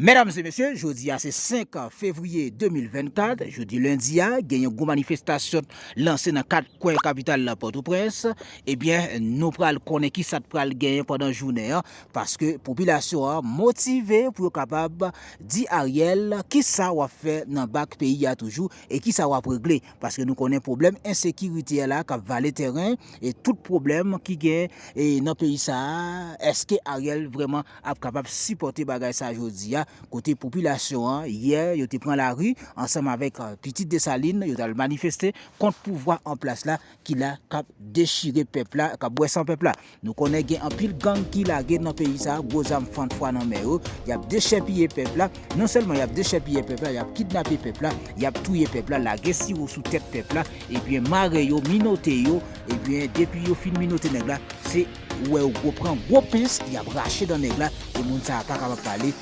Medam e mesye, jodi a se 5 fevriye 2024, jodi lendi a, gen yon gwo manifestasyon lanse nan 4 kwen kapital la Pòtoprens, ebyen nou pral konnen ki sa t pral genyen pandan jounen an, paske popilasyon an motive pou yo kapab di Ariel kisa wap fè nan bak peyi a toujou e kisa wap regle paske nou konnen pwoblèm ensekirite a la kap vale tèren e tout pwoblèm ki gen e nan peyi sa a eske Ariel vreman ap kapab sipòte bagay sa jodi a kote popilasyon an yè yo te pran lari ansanm avèk pitit Dessalines yo tal manifeste kont pouvwa an plas la. ki la kap dechire pèp la kap bwè san pèp la nou konnen gen anpil gang ki lage nan peyi sa gwo zam fann fwa nan men yo yap dechèpiye pèp la non sèlman yap dechèpiye pèp la yap kidnape pèp la yap touye pèp la lage siwo sou tèt pèp la ebyen mare yo minote yo ebyen depi yo fin minote nèg la se ou wè yo gwo pran gwo pens yap rache dan nèg la e moun sa pa kapab pale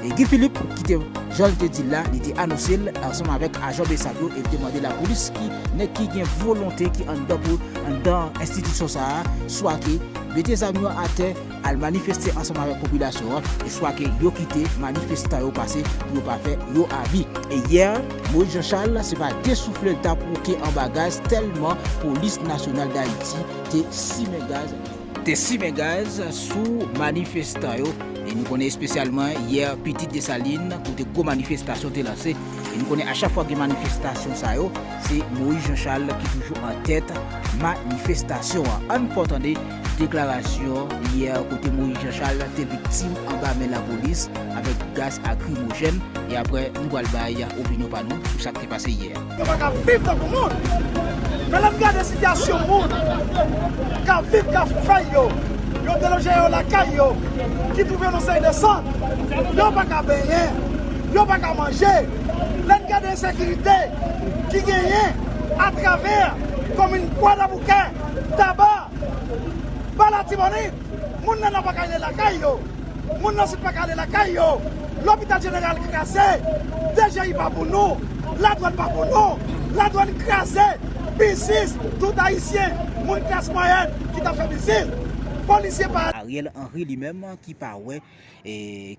E Guy Philippe ki te jan li te di l la li te anonse l ansanm avèk ajan Bsap yo e li te mande lapolis ki nèg ki gen volonte ki anndan pou anndan enstitisyon sa a swa ke mete zam yo atè al manifeste ansanm avèk popilasyon an e swa ke yo kite manifestan yo pase pou yo pa fè yo abi. E yè Moïse Jean Charles se pa de soufle l ta pwoke anba gaz tèlman polis nasyonal Dayiti te simen gaz. te simen gaz sou manifestan yo e nou konnen espesyalman yè Pitit Desalin kote gwo manifestasyon te lanse e nou konnen a chak fwa gen manifestasyon sa yo se Moïse Jean Charles ki toujou an tèt manifestasyon an. Ann pran tande deklarasyon yè kote Moïse Jean Charles te viktim anba men lapolis avèk gaz akrimojèn e aprè nou pral bay opinyon pa nou sou sa k te pase yè. Yo pa ka viv tankou moun. Men lè m gade sitiyasyon moun k ap viv Kafou-Fèy yo, yo deloje yo lakay yo, ki twouve nan Sèil de San, yo pa ka benyen, yo pa ka manje. Lè n gade ensekirite ki genyen atravè komin Kwadèboukè, Taba, Ba Latibonit, moun nan Nò pa ka ale lakay yo, moun nan Sid pa ka ale lakay yo. Lopital jeneral kraze, DGI pa pou nou, ladwann pa pou nou, ladwann kraze, biznis tout ayisyen, moun klas mwayèn ki ta fè biznis, polisye pa. Ariel Henry li menm ki pa wè,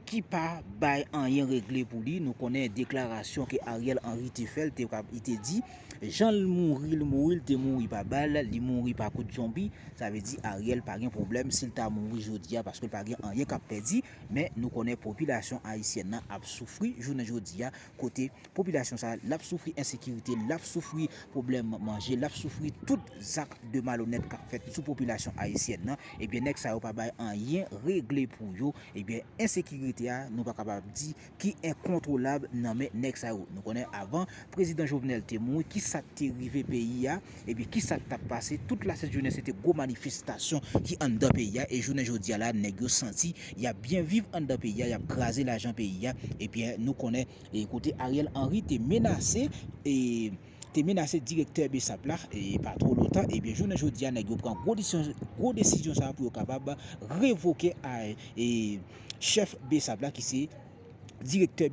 ki pa bay anyen regle pou li, nou konnen deklarasyon ke Ariel Henry te fè, li te di, jan l mouri, l mouri, l te mouri pa bal, li mouri pa kout zonbi, sa vle di Ariel pa gen pwoblèm si l ta mouri jodi a paske l pa gen anyen k ap pèdi. Men nou konnen popilasyon ayisyèn nan ap soufri jounen jodi a, kote popilasyon sa l ap soufri ensekirite, l ap soufri pwoblèm manje, l ap soufri tout zak de malonèt k ap fèt sou popilasyon ayisyèn nan, ebyen nèg sa yo pa bay anyen regle pou yo, ebyen ensekirite a nou pa kapab di ki enkontwolab nan men nèg sa yo. Nou konnen avan prezidan Jovenel te mouri, ki sa k te rive peyi a, epi ki sa k t ap pase, tout lasent jounen se te gwo manifestasyon ki anndan peyi a, e jounen jodi a la nèg yo santi y ap byen viv anndan peyi a, y ap kraze lajan peyi a, ebyen nou konnen kote Ariel Henry te menase. te menase direktè Bsap la pa two lontan ebyen jounen jodi a nèg yo pran gwo desizyon sa pou yo kapab revoke chèf Bsap la ki se direktè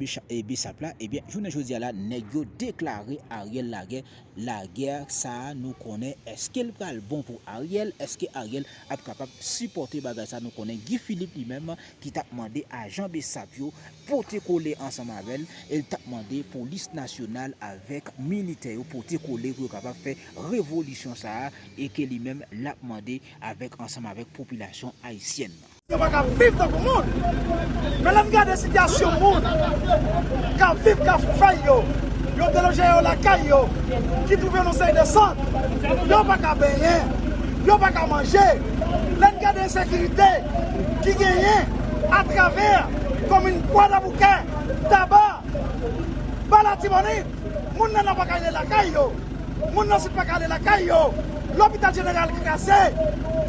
Bsap la ebyen jounen jodi a la nèg yo deklare Ariel lagè lagè sa nou konnen eske l pral bon pou Ariel eske Ariel ap kapab sipòte bagay sa nou konnen Guy Philippe li menm ki tap mande ajan bsap yo pote kole ansanm avèl e li tap mande polis nasyonal avèk militè yo pote kole pou yo kapab fè revolisyon sa a e ke li menm lap mande avèk ansanm avèk popilasyon ayisyèn nan. Yo pa ka viv tankou moun. Men lè m gade sitiyasyon moun k ap viv Kafoufèy yo, yo deloje yo lakay yo, ki twouve nou sèy de sant, yo pa ka benyen, yo pa ka manje. Lè n gade ensekirite ki genyen atravè komin Kwadèboukè, Taba, Ba Latibonit, moun nan nò pa ka ale lakay yo, moun nan sid pa ka ale lakay yo, lopital jeneral kraze,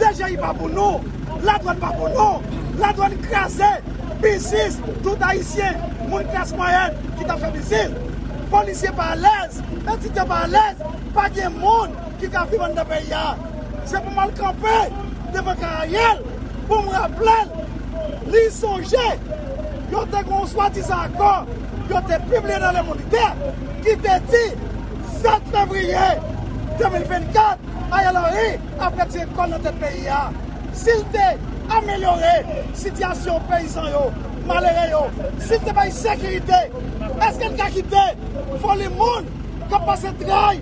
DGI pa pou nou, ladwann pa pou nou, ladwann kraze, biznis tout ayisyen, moun klas mwayèn ki t ap fè biznis, polisye pa alèz, etidyan pa alèz, pa gen moun ki ka viv anndan peyi a. Se pou m al kanpe devan ka Ariel pou m raple l li sonje yo te gen yon swadizan akò yo te pibliye nan Le Moniteur ki te di 7 fevriye 2024 Ariel Henry ap retire kò l nan tèt peyi a si l te amelyore sitiyasyon peyizan yo, malere yo, si l te bay sekirite. Èske n ka kite foli moun k ap pase tray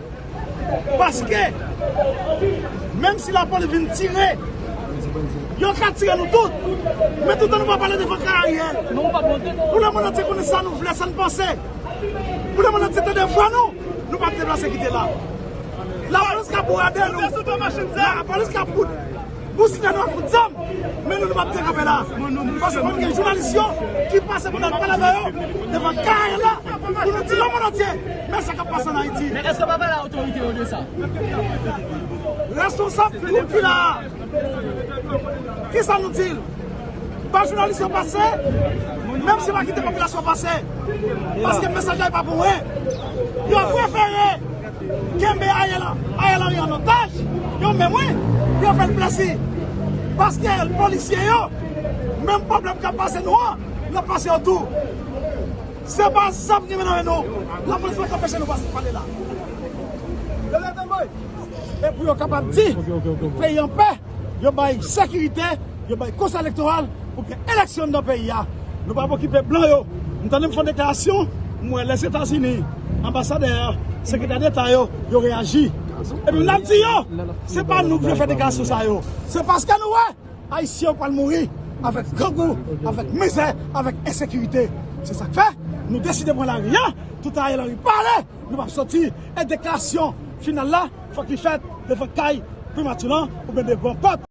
Paske, menm si lapolis vin tire, yo ka tire nou tout. Men toutan nou pa pale devan ka Ariel. Pou lemonn antye konnen sa nou vle, sa nou panse. Pou lemonn antye tande vwa nou, nou pa deplase kite la. Lapolis ka bourade nou. Lapolis ka bout. Nou sila nou ap fout zam men nou nou pap dekanpe la paske konn gen jounalis yo ki pase pou nal pale avè yo devan kaye la pou nou di lemond antye men sa kap pase an ayiti. Men eske w pa pale otorite yo de sa? Responsab twoup ki la a kisa nou di l? Bay jounalis yo pase menm si yo pa kite popilasyon pase paske mesaj la e pa pou mwen yo prefere Kenbe Ariel Henry an otaj, yo menm wi, pou yo fè l plezi. Paske polisye yo, menm pwoblèm k ap pase nou an, l ap pase yo tou. Se pa zam ki gen nan men nou, lapolis pa ka anpeche nou pale la. Yo leve men, e pou yo kapab di, peyi an pè. yo bay sekirite, yo bay konsèy elektoral pou k gen eleksyon anndan peyi a. Nou p ap okipe blan yo. M tande m fè yon deklarasyon, m wè Lèzetazini, anbasadè a, sekretè deta yo, yo reyaji. Epi m ap di yo, se pa nou k vle fè deklarasyon sa yo. Se paske nou wè Ayisyen yo pral mouri avèk grangou, avèk mizè, avèk ensekirite. Se sa k fè nou deside pran lari a, tout Ariel Henry pale! Nou pap soti e deklarasyon final la fòk li fèt devan kay primati lan oubyen devan pòt.